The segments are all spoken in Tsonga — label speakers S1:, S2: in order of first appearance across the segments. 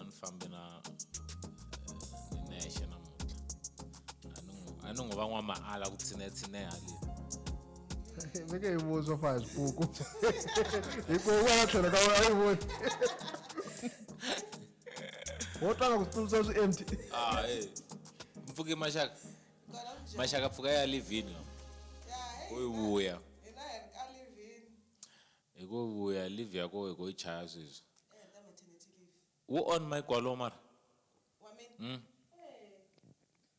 S1: a ni fambi na eh, ni nexe namuntlha a ni n'wi a ni n'wi va n'wamaala ku tshinetshineha le veke hi vuzwa
S2: fa hi xipuku hikuva wena tlhelo ka wena yi voni wo tlanga ku tsundzuxa swi empty ah eh
S1: mpfuke maxaka maxaka pfuka ya livini yo ku yi vuya Hi ko vuya leave ya koho hi ko yi chaya sweswi. Eya ta maternity leave. Wu on mic walowo mara? Wa mina? Mm. Eya.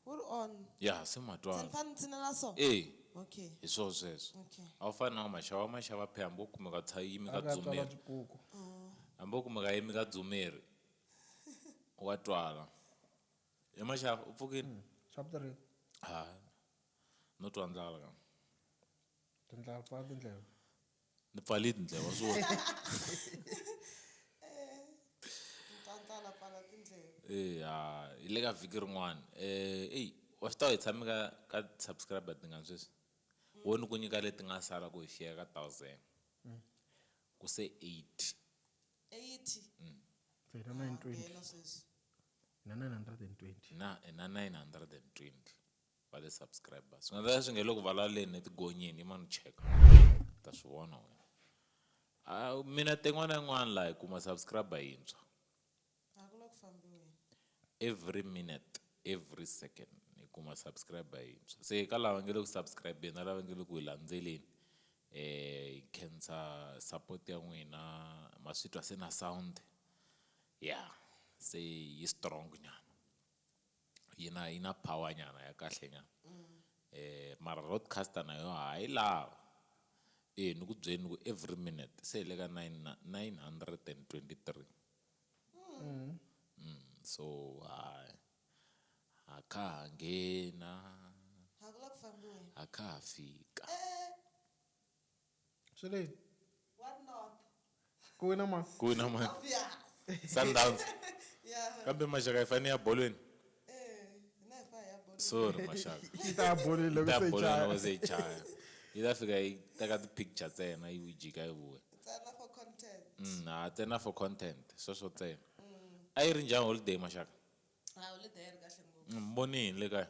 S3: Wu ri on. Ya se ma twa. Se
S1: ni fane ni tshinela so? E.
S3: Okay. Hi swo
S1: sweswo. Okay. A wu fani na wa
S3: maxava, wa
S1: maxava phela hambi wo kumeka u tsha yimi ka Aka tswala dzumeri. swikuku.
S2: Hambi wo
S1: kumeka a yimi ka dzumeri wa twala. He maxava u pfukile? Chapter rihi?
S2: Hayi.
S1: No twa ndlala ka.
S2: Tindlala pfala tindleve. Ni pfale
S1: tindlela wa swi vona. Eya hi le ka vhiki rin'wana eyi wa swi tiva hi tshame ka ka ti-subscriber tingani sweswi wo ni ku nyika leti nga sala ku hi fika ka thousand ku se eighty. Hi
S2: na nine
S1: hundred and twenty. va le subscribers swi nga ta swi nge le ku vulavuleni etigonyeni yima ni cheka ta swi vona wena a mina ten'wana yin'wana laha hi kuma subscriber yintshwa a ku la ku fambiweni every minute every second hi kuma subscriber yintshwa se ka lava nge le ku subscribeni na lava nge le ku hi landzeleni eh hi khensa support ya n'wina ma swi twa se na sound ya se yi strong nyana yi na yi na power nyana ya kahle nyana mara roadcaster na yo ha yi lava e ni ku byeli ni ku every minute se hi le ka nine nine hundred and twenty three so hayi ha kha ha nghena ha kha ha fika.
S2: Swi le. Wa North.
S3: Ku wina
S2: mani? Ku wina mani?
S1: Obvious.
S3: Sundowns. Yeah.
S1: Kambe
S3: Maxaka hi fane
S1: ya bolweni.
S3: Sorry Maxaka. Yi
S1: ta ya bolweni loko se yi
S2: chaya. Yi ta ya bolweni loko se yi chaya.
S1: Yi ta fika yi teka ti picture ntsena yi vu jika yi vuya. Ntsena for content.
S3: Umm ha ntsena for
S1: content sweswo ntsena. A yi ri njhani holiday Maxaka? Holiday a
S3: yi ri kahle ngopfu. Ni mi voni yini le kaya?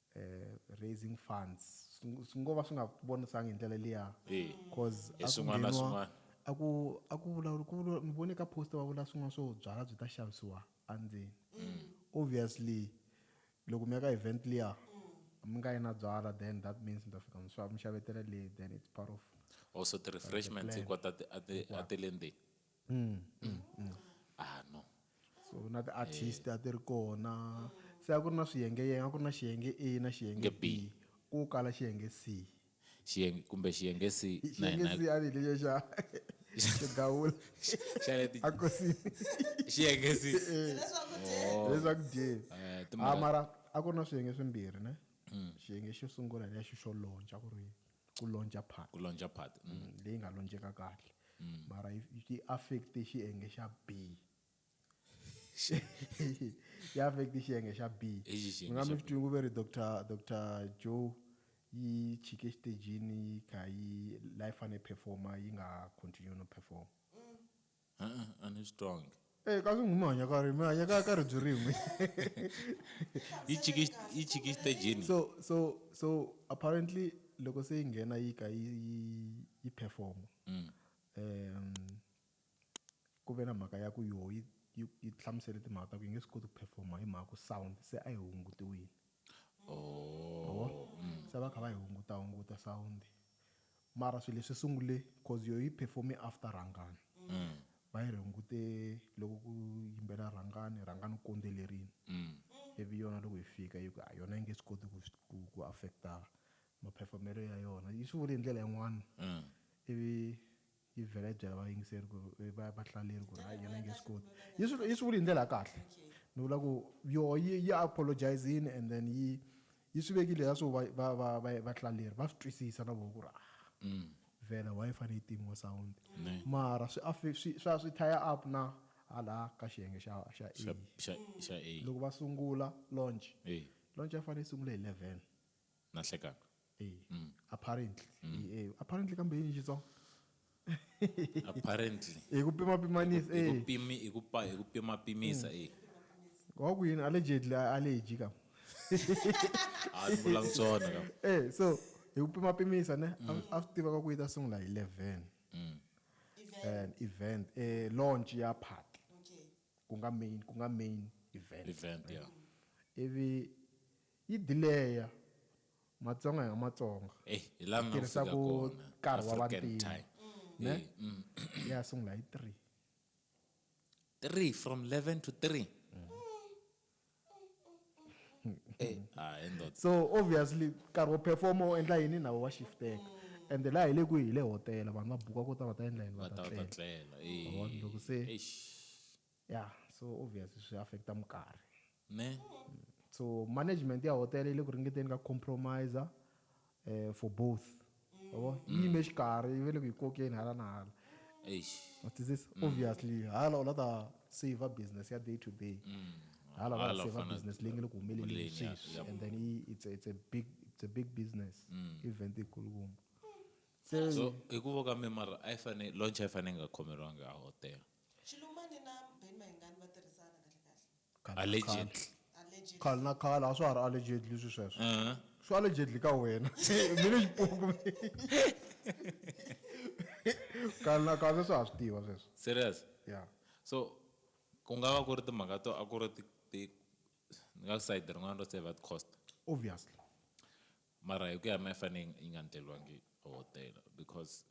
S2: raising funds swi ngo va swi nga vonisanga hi ndlela liya cause
S1: a ku a ku
S2: vulavula ku vula ni vone ka post va vula swin'wana swo byala byi ta xavisiwa endzeni mm. obviously loko mi ya ka event liya mi nga yi na byala then that means mi ta fika mi xavetela le then it's part of also the
S1: refreshments hinkwato a ti le ndzeni ah no so na
S2: ti-artist a ti ri kona se a ku ri na swiyengeyenge a ku ri na xiyenge a na xiyenge Nge B. b ku kala xiyenge c xiyenge kumbe
S1: xiyenge si na xiyenge hina c a ni hi lexo
S2: xa xo gawula xa le ti- a kosini xiyenge
S1: si leswaku
S2: dye leswaku dye Eh, timhaka- a mara
S1: a ku ri na
S2: swiyenge swimbirhi ne xiyenge xo sungula hi leya xo xo lontsha ku ri ku lonca part ku lonca part mm. Mm,
S1: leyi nga lonceka
S2: kahle mm. mara yi affect xiyenge xa b yi affect xiyenge xa
S1: b
S2: mi nga mi swi
S1: twingu ve ri
S2: dr dr
S1: joe
S2: yi chike xitejini yi kha yi la yi fanele performa yi nga continue no performa
S1: a ni swi twangi e ka swi n'wi mi hanya
S2: ka ri mi hanya ka ka ribyi rin'we
S1: yi chiki xitejini so so so
S2: apparently loko se yi nghena yi ka yi yi yi performa mm. um ku ve na mhaka ya ku yo yi yi hlamusele timhaka ta ku yi nge swi koti ku performa hi mhaka ku sound se a yi hungutiwile oh. mm. se va kha va yi hunguta hunguta sound mara swilo leswi sungule cause yo yi performe after rhangani mm. va yi hungute loko ku yimbela rhangani rhangani u kondzelerini mm. ivi yona loko yi fika yi ku a yona yi nge swi koti ku ku affecta maperfomelo ya yona yi swi vule hi ndlela yin'wana mm. ivi yi vhela yi byela vayingiseri ku ri va vahlaleri ku ri hayi yena yi nge swi koti yi swi yi swi vuli hi ndlela ya kahle ni vula ku yoho yi yi apologizini and then yi yi swi vekile ya swo va va va va vahlaleri va swi twisisa na voho ku ri a mm. vhela why yi fanele yi timiwa sound mara swi afe swi swa swi thaya up na hala ka xiyenge xa xa xa xa loko va
S1: sungula
S2: launch launch ya
S1: fanele yi sungula
S2: hi 11 na hlekaka eh
S1: mm. apparently
S2: mm. eh apparently kambe yini xitsongo apparently
S1: hi ku pima pimanisa
S2: eh hi ku pimi hi ku pa
S1: hi ku pima pimisa eh wa
S2: ku yini allegedly allergy ka
S1: a vula ntsona ka eh so hi ku pima
S2: pimisa ne mm. a swi tiva ka ku yi ta sungula hi 11 mm. and event eh launch ya party okay ku
S3: nga main ku
S2: nga main event event
S1: yeah ivi
S2: Yi delay-a matsonga hi nga matsonga hi tirhisa
S1: ku nkarhi
S2: wa
S1: vantima ne
S2: ya sungula hi three.
S1: Three from eleven
S2: to three so obviously nkarhi wo perform u endla yini na wo wa shifteka ende laha hi le kwihi hi le hotela vanhu va buka ku ta va ta endla yini va ta tlela loko
S1: se Yeah so
S2: obvious swi affecta mukarhi. Ne.
S1: So
S2: management ya hotel yi le ku ringeteni ka compromiser eh, for both yabo yi yime xikarhi yi ve le ku yi kokeni hala na hala Eish. What
S1: is this?
S2: Obviously, hala u la ta save business ya day to day. Hala va Hala la u save fanele- business leyi nge le ku
S1: humeleleni Humeleleni,
S2: ya- sweswi ya- and then
S1: i-
S2: it's a,
S1: it's a
S2: big it's a big business event ikulukumba. So
S1: hi ku voka mi mara a yi fane launch a yi fane yi nga khomeriwangi a hotel. Xilumani na
S3: Ben Mayengani va tirhisana kahle kahle. Allegedly.
S1: Allegedly. Khale na
S3: khale a swa ha
S2: ri allegedly swi sweswo. Uh-huh. Swi allegedly
S1: ka
S2: wena. Mina xipuku. Khale na khale swa ha swi tiva sweswo. Serious? Yeah.
S1: So ku nga va ku ri timhaka to a ku ri ti ti ni nga ku side rin'wana ro save at cost. Obviously. Mara hi ku ya mi a yi fane yi nga ndleriwangi hotela because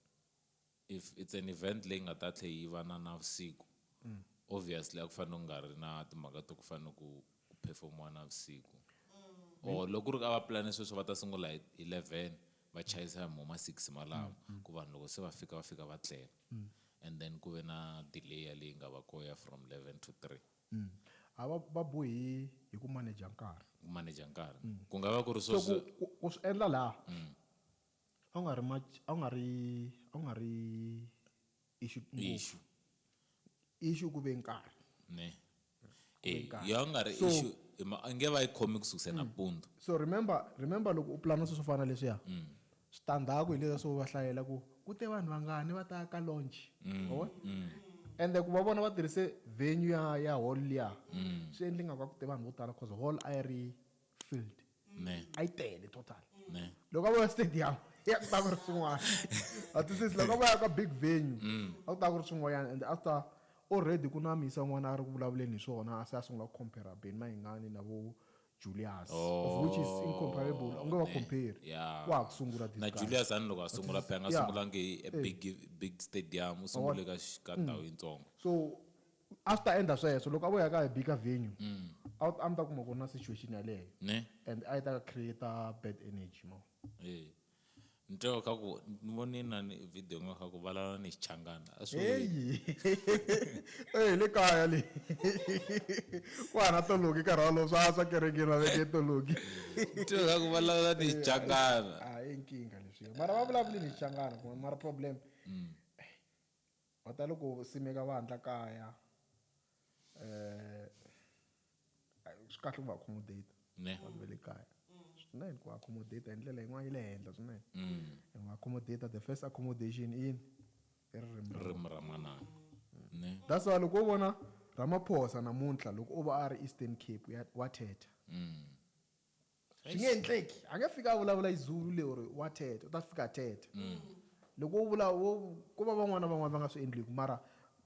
S1: If it's an event leyi nga ta tlhe yi va na navusiku obviously a ku fanele ku nga ri na timhaka to ku fanele ku ku performiwa navusiku or loko ku ri a va pulane sweswo va ta sungula hi hi eleven va chayisa hi mo ma six malamo ku vanhu loko se va fika va fika va tlela and then ku ve na delay yaleyi nga va koho ya from eleven to three a va
S2: va bohi hi ku manager nkarhi ku manager nkarhi
S1: ku nga va ku ri so swo ku ku ku swi
S2: endla
S1: laha
S2: A wu nga ri much a wu nga ri a wu nga ri issue
S1: ngopfu Issue.
S2: issue ku ve nkarhi ne Ku
S1: ve e
S2: nkarhi. yo a nga ri So-
S1: issue hi ma- a
S2: nge
S1: va yi khomi ku sukisa nampundzu so remember
S2: remember loko u pulana swilo swo fana na leswiya switandzhaku hi leswiya swo va hlayela ku ku te vanhu vangani va ta ka launch Ma vona? ende ku va vona va tirhise venue ya ya hall liya swi endle nga ku a ku te vanhu vo tala cause hall a yi ri filled ne a yi
S1: tele total
S2: ne loko a vuya
S1: stadium
S2: ya ku ta ku ri swin'wana a twisisi loko a vuya ka big venue mm. a ku ta ku ri swin'wanyana and after already ku na misa n'wana a ri ku vulavuleni hi swona a se a sungula ku compare beni mahingani na vo Julius oh, of which is incomparable u nge wa compare wa ha ku sungula
S1: na
S2: Julius ani loko a sungula pe
S1: a nga sungulangi a
S2: big
S1: big stadium u sungule ka ka ndhawu yitsongo so
S2: a swi ta endla sweswo loko a vo ya ka hi bika venue a wu- a mi ta kuma ku ri na situation yaleyo ne and a yi ta create bad energy mo Eh.
S1: ni twa ka ku ni vone na ni video nga ka ku valala ni xichangana a swi vuli yini? heyi
S2: e le kaya le ku hana toloki nkarhi walowo swa swa kerekeni va veke toloki Ni twa ka ku
S1: valala ni xichangana a i nkingha
S2: leswiya mara va vulavuli ni xichangana kuma mara problem Va tale ku simeka vandlha kaya.
S1: Swi
S2: kahle ku va accommodate vanhu va le kaya swinene ku va accommodate hi ndlela yin'wana ya le henhla swinene. Hi va accommodate the first accommodation i yini? I ririmi ra ririmi ra manana.
S1: That's why loko wo vona
S2: Ramaphosa namuntlha loko o va a ri Eastern Cape wa thetha. Swi nge endleki. A nge fiki a vulavula hi Zulu leri wa thetha, u ta fika a thetha. Loko u vula wo ko va van'wana na van'wana va nga swi endliku mara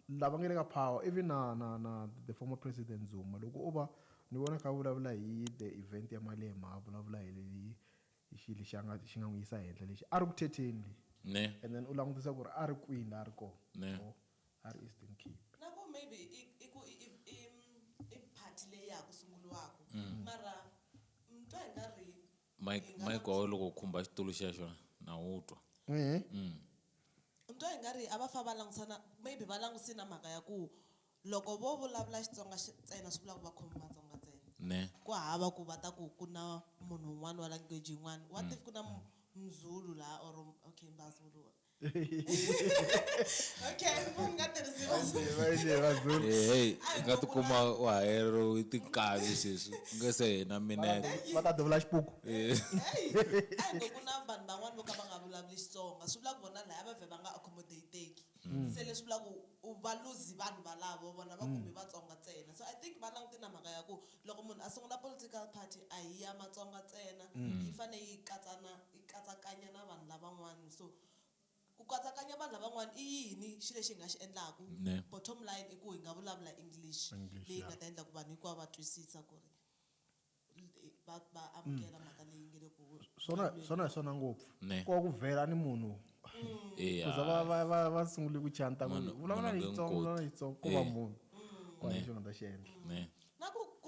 S2: lava nge le ka power even na na na the former president Zuma loko o va ni vona a kha a vulavula hi the event ya Malema a vulavula hi hi hi xi lexi a nga xi nga n'wi yisa henhla lexi a ri ku thetheni le and then u
S1: langutisa ku
S2: ri a ri kwini la a ri kona. a ri Eastern Cape. Na ku maybe
S3: i i ku i i i party leyi ya ha ku sunguriwaka mara ni twa i nga ri hi Mike nga Mike wa wena
S1: loko u khumba xitulu xexo na wu twa. ni
S3: twa i nga ri a va fa va langutisana maybe va langutise na mhaka ya ku loko vo vulavula Xitsonga xi ntsena swi vula ku va khomi Matsonga ntsena. Ne. Ku hava
S1: ku va ta
S3: ku ku na munhu un'wana wa language yin'wana what if ku na Muzulu laha or okay Mazulu. okay mpo mi nga tirhisi vazulu
S1: Eh, hey nga tikuma u hayeriwe tinkavi sweswi ku nga se hina minete va ta duvula xipuku
S2: Eh,
S3: ayibo ku na vanhu van'wani vo ka va nga vulavuli xitsonga swi vula ku vona laya va vhe va nga accommodateki se leswi vula ku u va luzi vanhu valavo vona va kumi vatsonga ntsena so i think va langute na mhaka ya ku Loko munhu a sungula political party a hi ya Matsonga ntsena, yi fane yi katsa na yi katsakanya na vanhu lavan'wana. So ku katsakanya vanhu lavan'wana i yini xi lexi hi nga xi endlaku? Ne. Bottom line i ku hi nga vulavula English English, leyi yi ya. nga ta endla ku vanhu hinkwavo va twisisa ku ri va va amukela mhaka leyi nge le ku Swona swona hi swona
S2: ngopfu. Ne. Ko ku vhela ni munhu Eya. ku za va va va va sungule ku chanta ku Munhu- vulavula munhu nge Xitsonga, n'wi vulavula koti. Xitsonga ko va Eh. munhu. Ko a hi Ne. xi nga ta xi endla. Ne.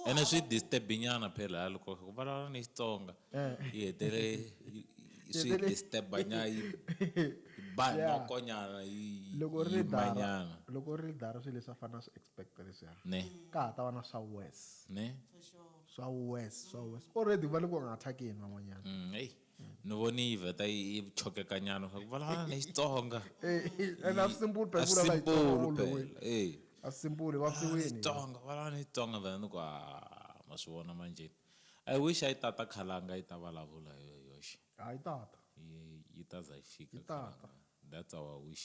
S2: ene swi
S1: disturbinyana phela ha loko ku vulavula ni xitsonga eh. yi hetele swi disturbanya yi ba nokonyana yiloko ri dara
S2: loko ri dara swilo leswi a fanele swi expect leswiya ne ka ha ta va na swa wes ne swa wes swa wes already va le ku nga attackeni van'wanyana mm,
S1: ni voni yi vheta yi yi chokekanyana swa ku vulavula na xitsonga and a
S2: simple a phela simple simple phela eh a simple va siwini xitsonga vulavula na xitsonga
S1: vhela ni ku a ma swi vona manjeni i wish a yi tata khalanga yi ta vulavula hi yoxe hayi tata
S2: yi yi ta za
S1: yi fika Yi tata. khalanga
S2: that's our wish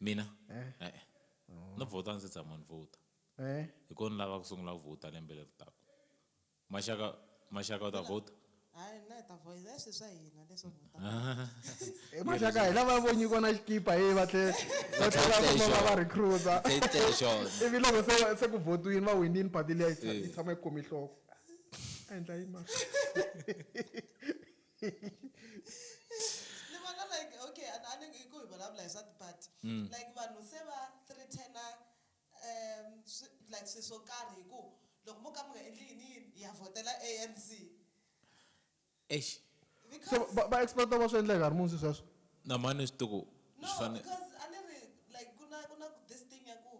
S2: Mina?
S1: Eh. Eh. Oh. Ni vhota ndzi tshama ni vhota. Eh. Hi kona lava ku sungula ku vhota lembe leri taka. Maxaka maxaka u ta vhota? Hayi na ta
S3: voice leswi swa hina leswo vhota. Eh
S2: maxaka hi lava vo nyikiwa na xikipa hi va tlhe va tlhela ku va va recruiter. Ivi loko se se ku votiwini va winini party leyi yi tshama yi khomi nhloko. A endla yini mara?
S3: ni vona like okay a a ni ngi ku hi vulavula hi swa tipati Mm. like vanhu se va threatena um swi- like swi swo karhi hi ku loko mo ka mi nga endli yini yini ya vhotela anc eish so
S2: because va va expect va swi endla nkarhi muni swi sweswo na mani swi tiku
S1: no swi fane because a
S3: ni ri like ku na ku na this thing ya ku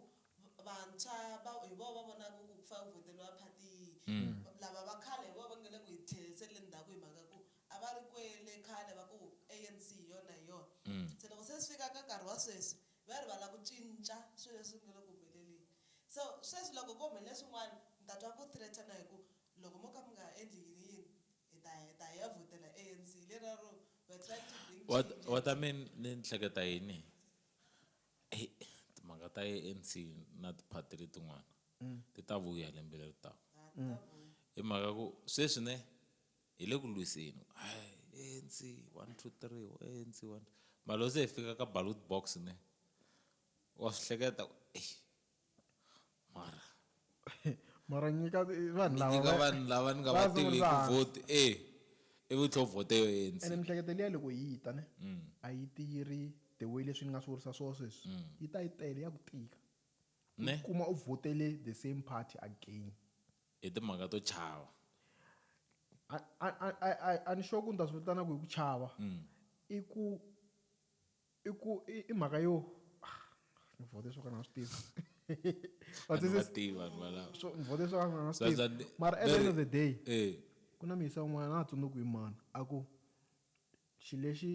S3: vantshwa va hi vona va vonaka ku ku fa ku vhoteliwa phati yihi lava va khale hi vona va nga le ku hi tlheriseni le ndzhaku hi mhaka ku a va ri kwele khale va ku ANC hi yona hi yona se loko se swi fika ka nkarhi wa sweswi va rivala ku cinca swilo leswi nga le ku humeleleni so sweswi loko ko humelele swin'wana mi ta twa ku threaten-a hi ku loko mo ka mi nga endli yini yini hi ta hi ta hi ya vhotela ANC hi leriya ro we are trying to bring change. Waterman
S1: ni ni hleketa yini timhaka ta anc na tiphati letin'wana mm. ti ta vuya lembe leri taka mm. hi mhaka ku sweswi ne hi le ku lwiseni anc one two three anc one mara loko se hi fika ka ballot box ne wa swi hleketa ku mara
S2: mara nyika vanhu lava nyika va- vanhu lava ni nga va va
S1: tivi hi sungurisa ku hansi. vote e i vutlho vote yo ANC ene miehleketo liya loko yi
S2: ta ne a yi ti yi ri the way leswi ni nga swi vurisa swo sweswi yi ta yi tele ya ku tika u ne kuma u vhotele the same party again hi timhaka
S1: to chava
S2: A- a- a- a- a-
S1: a ni
S2: sure ku ni ta swi vitana ku hi ku chava i ku i ku i i mhaka yo ah, ni vote swo ka ni nga swi tivi But Vanhu va
S1: this is- tivi vanhu valava. swo- ni vote swo ka ni nga
S2: swi Sasa tivi ni- mara at the
S1: very- end
S2: of the
S1: day
S2: Eh, ku na
S1: miyisa un'wana
S2: na ha tsundzuki hi mani a ku xilo lexi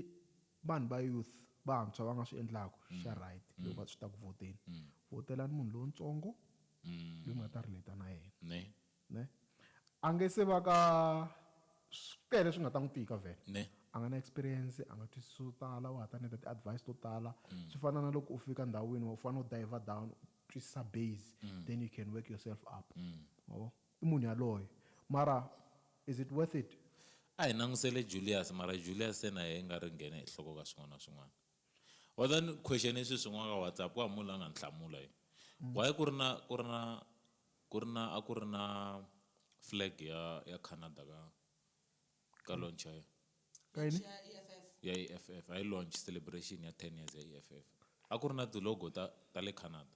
S2: vanhu va youth vantshwa va nga swi endlaku xa right loko va swi ta ku vhoteni vhotelani munhu lowutsongo loyi mi nga ta relata na yena ne Ne? A nge se va ka swi tele swi nga ta n'wi tika vhele. Ne? A nga na
S1: experience,
S2: a nga twisisi swo tala, wa ha ta need ti-advice to tala. Swi fana na loko u fika ndhawini u fanele u diver down u twisisa base then you can work yourself up. Ma vo? I munhu yaloye. Mara is it worth it? A hi langusele
S1: Julius mara Julius se na yehe i nga ri nghene hi nhloko ka swin'wana na swin'wana. Wa tiva ni question sweswi yin'wana ka WhatsApp ku hava munhu la nga ni hlamula yo why ku ri na ku ri na ku ri na a ku ri na flag ya ya Canada ka ka launch ya yona Ka yini?
S2: Launch ya EFF.
S1: ya EFF hayi launch celebration ya ten years ya EFF a ku ri na ti-logo ta ta le Canada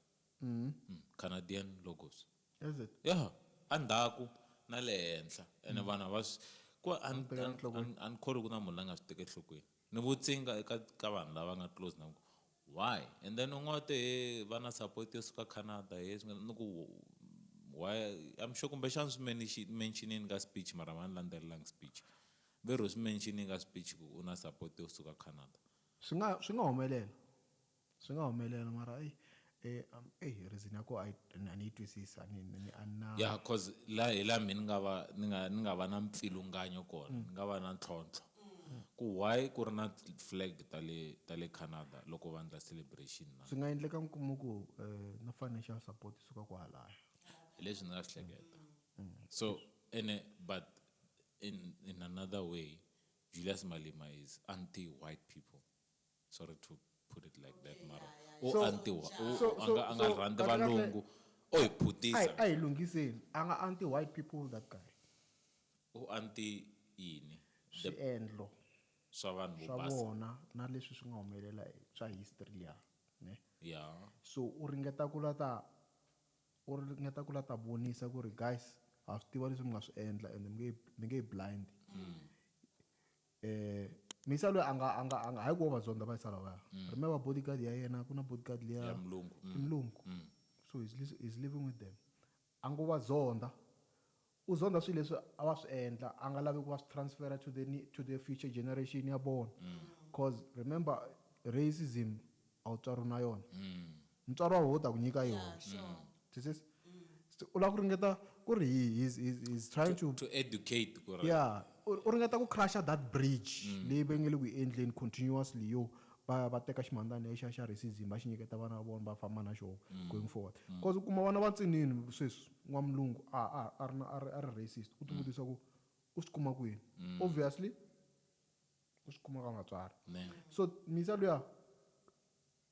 S1: Canadian logos Is it? ya
S2: a
S1: ndzhaku na le henhla ene vanhu a va swi ku a ni a ni a ni a ni kholwi ku na munhu la nga swi teki enhlokweni Ni vutise inga eka ka vanhu lava nga close na ku why and then un'we u te he va na support yo suka Canada he swi nga ni ku why I'm sure kumbexana swi ni mentionini ka speech mara a va ni landzelelanga speech ve ri u swi mentionini ka speech ku u na support yo suka Canada. Swi nga swi nga
S2: humelela. Swi nga humelela mara eyi eyi reason ya koho a yi a ni yi twisisi a ni ni ni a ni na Ya
S1: coz la hi la mehe ni nga va ni nga ni nga va na mpfilunganyo kona ni nga va na ntlhontlho ku why ku ri na flag ta le ta le Canada loko va endla celebration na. Swi nga endleka mi kuma ku
S2: na financial support yi suka kwahalaya. Hi leswi ni nga swi
S1: hleketa so ene but in in another way Julius Malema is anti white people. sorry to put it like that mara u So- antiwa u- so- u- a nga- a nga so- rhandzi kahle kahle- valungu o hi a hi- phutisa a hi lunghiseni
S2: a nga anti white people that guy u
S1: anti yini The- swiendlo
S2: swa
S1: vanhu vo swa basa vona na leswi swi
S2: nga humelela hi- swa history liya ne ya so
S1: u ringeta
S2: ku la ta u ringeta ku la ta vonisa ku ri guys ha swi tiva leswi mi nga swi endla and mi nge mi nge blind Misa loyi a nga a nga a nga hayi ku wo vadzonda va yisa lawaya rime va bodyguard ya yena ku na bodyguard liya ya mulungu i mulungu
S1: so he's,
S2: he's living with them a ngo va zonda u zonda swilo leswi a va swi endla a nga lavi ku va swi transfera to the to the future generation ya vona cause remember racism a wu tswariwi na yona Mutswari wa wena u ta ku nyika yona. Yeah, sure. Do you see? Se u lava ku ringeta ku ri he, he's, he's, he's trying to. To educate ku ri. Yeah,
S1: u, u ringeta ku
S2: crusher that bridge leyi va nge le ku yi endleni continuously yo va, va teka ximhandzana lexiya xa racism va xi nyiketa vana va vona va famba na xoho going forward. Coz u kuma vana va ntsinini sweswi, n'wamlungu a, a, a ri na, a ri, a ri racist, u ti vutisa ku u swi kuma kwini? Obviously u swi kuma ka vatswari. Neh. So Misa luya.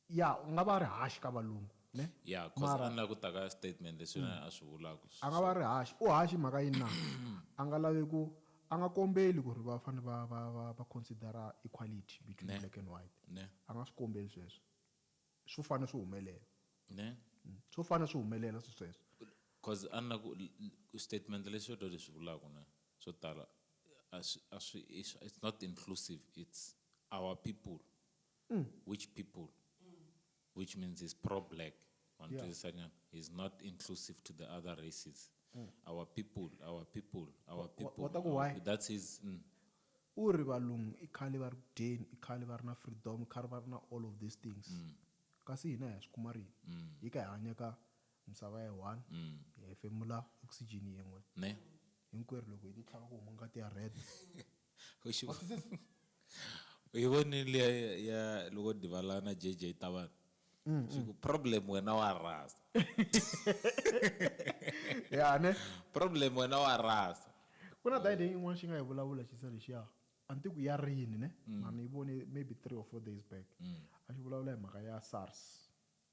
S2: Ya, u nga va a ri hash ka valungu, ne? Ya, coz a ni lavi ku
S1: ta ka statement leswi na yena a swi vulaku. A nga va a ri hash. U
S2: hash hi mhaka yini na? A nga lavi ku, a nga kombeli ku ri va fane va, va, va, va consider-a equality between black and white. Ne. A nga swi kombeli sweswo. Swo fane swi humelela. Ne. Swo fane swi humelela swisweswo. Coz a ni
S1: lavi ku, statement lexi xo leswi vulaku ne, swo tala a swi, a swi, it's not inclusive, it's our people. mm. which people which means he's pro black on yeah. he's not inclusive to the other races mm. our people our people our people
S2: what, what, what, that's his
S1: mm. u ri
S2: valungu i khale va ri ku dyeni i khale va ri na freedom i khale va ri na all of these things mm. kasi hina hi ya swi kuma rini mm. hi ka hi hanya ka misava ya one mm. hi hefemula oxygen yin'we ne
S1: hinkwerhu loko hi
S2: titlhava ku huma ngati ya red u xi
S1: u yi vonile ya, ya loko divala na jj tavana swi ku problem wena wa rasa
S2: ya ne problem wena wa
S1: rasa ku na dayide
S2: yin'wana xi nga yi vulavula xi se lexiya a ni tiku ya rini ne mara ni yi vone maybe three or four days back a xi vulavula hi mhaka ya SARS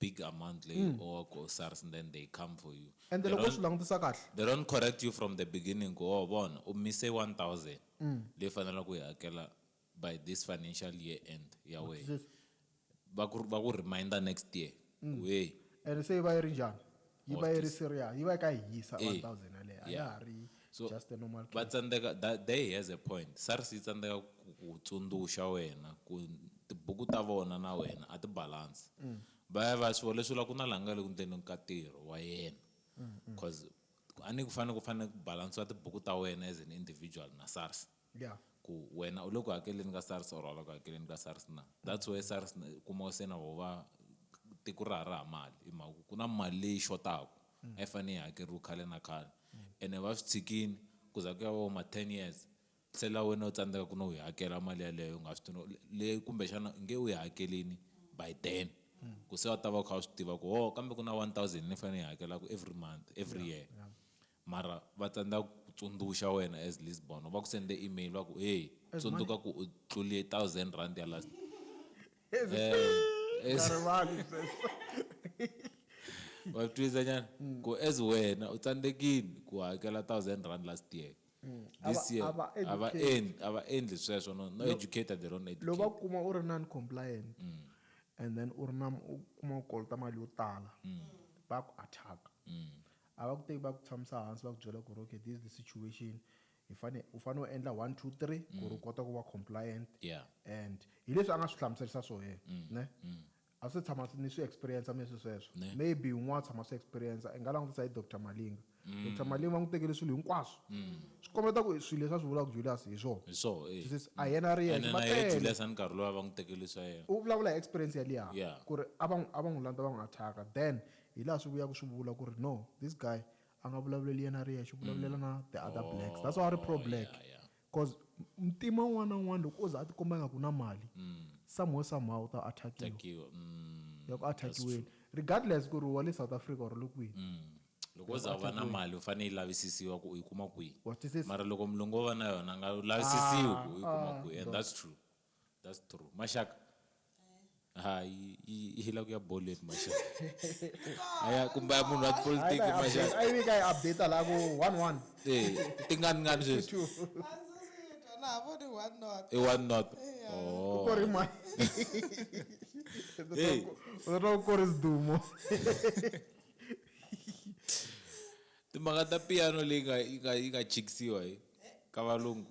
S1: big amount leyi mm. or ku SARS and then they come for you. And loko swi langutisa
S2: kahle. They
S1: don't
S2: correct you from
S1: the beginning ku oh bona u mise 1000 mm. leyi fanelaka ku yi hakela by this financial year end ya wena.
S2: Va ku
S1: va ku reminder next year. Mm. Hey. And se va yi ri
S2: njhani? yi va yi ri serious yi va yi ka yi hisa
S1: 1000
S2: yaleyo a ya ha ri so just a normal va
S1: tsandzeka
S2: they
S1: has a point sars yi tsandzeka ku tsundzuxa wena ku tibuku ta vona na wena a ti balance mm. va ya va swi leswi ku na laha nga le ku ndzeni ka ntirho wa yena mm, mm. cause a ni ku fanele ku fanele ku balansiwa tibuku ta wena as an individual na sars Yeah. ku
S2: wena u le
S1: ku hakeleni ka SARS or a la ku hakeleni ka SARS na. That's where SARS na kuma se na vo va tiko ra ha ri ha mali hi mhaka ku ku na mali leyi xotaku a yi fane yi hakeriwa khale na khale ene va swi tshikini ku za ku ya va vo ma ten years se la wena u tsandzeka ku no yi hakela mali yaleyo u nga swi tivi no leyi kumbexana u nge u yi hakelini by then ku se u ta va u kha u swi tiva ku ho kambe ku na one thousand ni fane ni yi hakelaku every month every year. Mara va tsandza ku ku tsundzuxa wena as Lisbon, va ku sende email va ku hey As tsundzuka ku u tlulie thousand rand ya last. As Eh,
S2: as- nga rivali sweswo.
S1: wa twisa nyana ku as wena u tsandzekile ku hakela thousand rand last year Mm. this Ava- year ava a va educate. endli a va endli sweswo no no Lo- educator they don't educate loko va kuma u ri
S2: non compliant and then u ri na u kuma u kolota mali yo tala va ku attack A va ku teki va ku tshamisa hansi va ku byela ku ri okay this is the situation hi fane u fane u endla one two three ku ri u kota ku va compliant Yeah. and
S1: hi leswi
S2: a nga swi hlamuserisa swo yena ne a swi se tshama ni swi experience mina swi sweswo Ne. maybe un'wana a tshama swi experience i nga langutisa hi Dr Malinga Dr Malinga va n'wi tekele swilo hinkwaswo swi kombeta ku swilo leswi a swi vulaka Julius hi swona hi swo eh. Swi says, a hi
S1: yena a ri yexe,
S2: ene va na yena tele. Julius a ni nkarhi
S1: lowa va n'wi tekele swa yena u vulavula hi experience ya
S2: liya Yeah. ku ri a va n'wi-
S1: a va n'wi
S2: landza va n'wi attack-a then Hi laha swi vuyaka swi vula ku ri no this guy a nga vulavuleli yena a ri yexe u vulavulela na the other blacks that's why a ri pro black coz muntima un'wana na un'wana loko o za a ti komba nga ku na mali some way some how u ta attackiwa
S1: ya ku
S2: attackiweni regardless ku ri wa le South Africa or u le kwini loko o za u va
S1: na mali u fane yi lavisisiwa ku u yi kuma kwihi mara loko
S2: mulungu o va na
S1: yona a nga lavisisiwi ku u yi kuma kwihi and that's true that's true mashaka ha yi- yi yi hila ku ya boleni mashaka aya kumbe ya munhu wa tipolitiki Hayi, mashaka ayi vika yi update
S2: la ku one one Eh, tingani
S1: ngani sweswi Azoziyitwa
S3: na voni one not. i one not
S1: Yeah. Oh. ku ri
S2: mwa Hey. uzotwa ku ri sidumo
S1: timhaka ta piano leyi nga- yi nga- yi nga chikisiwa hi ka valungu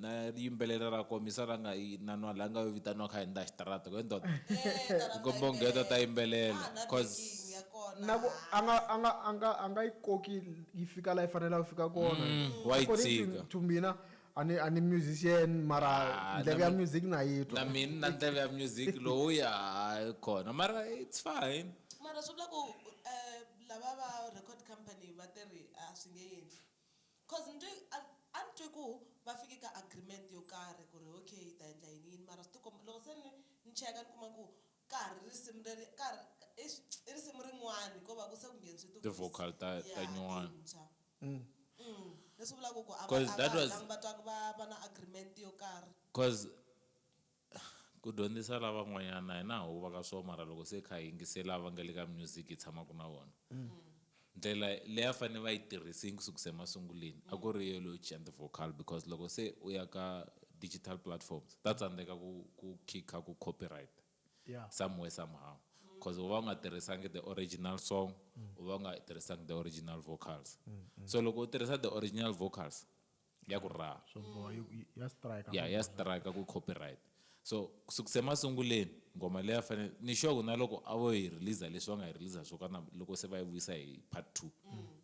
S1: na yimbelela ra komisa ra nga yi na nwa la nga yo vitaniwa kha henda xitarata ku ndoda kombo ngheto ta yimbelela cause na ku
S2: a nga a nga a nga a nga yi koki yi fika la yi fanela ku fika kona mm, wa yi tshika
S1: to mina
S2: ani ani musician mara ah, ndleve ya music na yi twa na mina na ndleve ya
S1: music lowu ya kona mara it's fine mara swi vula ku
S3: eh, lava va record company va te ri a swi nge endli Coz ni twe a a ni twe ku va fike ka agreement yo karhi ku ri okay hi ta endla yini yini mara swi tikomba loko se ni ni cheka ni kuma ku ka ha ri risimu leri ka ha ri eish i risimu rin'wani ko va ku se ku ngheniswe ti vocal ta ta
S1: nyuwani
S3: leswi vulaku ku a va a va ha langi va twa
S1: ku va va na
S3: agreement yo karhi.
S1: Ku dyondzisa lavan'wanyana hina ha huva ka swo mara loko se hi kha hi yingisela va nga le ka music hi tshamaka na vona ndlela leyi a fanele va yi tirhisini ku sukisa emasunguleni a ku ri yo leyo cinca ti-vocal because loko se u ya ka digital platforms ta tsandzeka ku ku khikha ku copyright Yeah. somewhere
S2: somehow
S1: cause u va u nga tirhisangi the original song u va u nga tirhisangi the original vocals so loko u tirhisa the original vocals ya ku raha swo
S2: boha yi- yi- ya strike ya ya strike ku
S1: copyright so kusukisa emasunguleni ngoma leyi a fanele ni sure ku na loko a vo yi release leswi va nga yi release swo kana loko se va yi vuyisa hi part two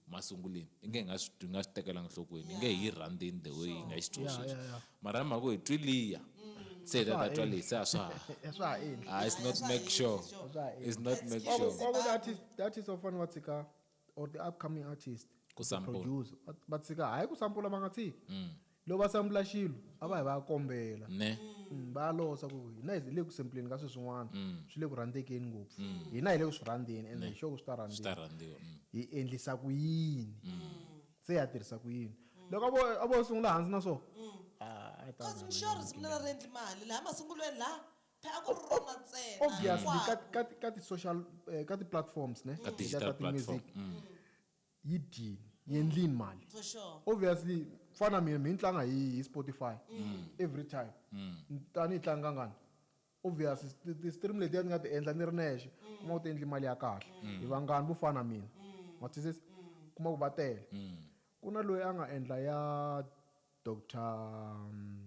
S1: masunguleni i nge hi nga swi twi- hi nga swi tekelanga nhlokweni i nge hi yi rhandzeni the way yi nga xi twi Yeah, sweswi yeah, yeah. mara hi mhaka ku hi twi liya se hi ta ta twa leyi se a swa ha Eh, swa ha endli
S2: ah it's not make sure
S1: it's not make sure kwaku that is that is
S2: ofana wa tshika or the upcoming artist Ku or sample. producer va, va tshika hayi ku sampula
S1: va nga
S2: tshiki Mm. loko va sampula xilo a va hi va ya kombela ne Mm, va
S1: ya losa
S2: ku hina hi le ku sampleni ka swilo swin'wana Mm. swi le ku rhandzekeni ngopfu hina hi le ku swi rhandzeni ende hi sure ku swi ta swi rhandziwa ta rhandziwa mm.
S1: hi endlisa ku
S2: yini se ya tirhisa ku yini loko a vo a vo sungula hansi na swona Ah, a yi ta cause
S3: rhandza. mixo ri sungula ri endli mali laha masungulweni laha Phela a ku ri rona ntsena obviously ka, hinkwako. ka,
S2: ka ti-social eh, ka ti-platforms ne Ka Letiya digital ta
S1: ti-music
S2: platform.
S1: Mm. yi
S2: dyini yi endlini mali For sure. obviously
S3: ku fana
S2: na mina mi ni tlanga hi, hi spotify every time Ni- a ni yi tlangi kangani obviously ti- ti-stream letiya ni nga ti endla ni ri nexe kuma ku ti endli mali ya kahle hi vangani vo fana na mina ma twisisa kuma ku va tele ku na loyi a nga endla ya doctor mm,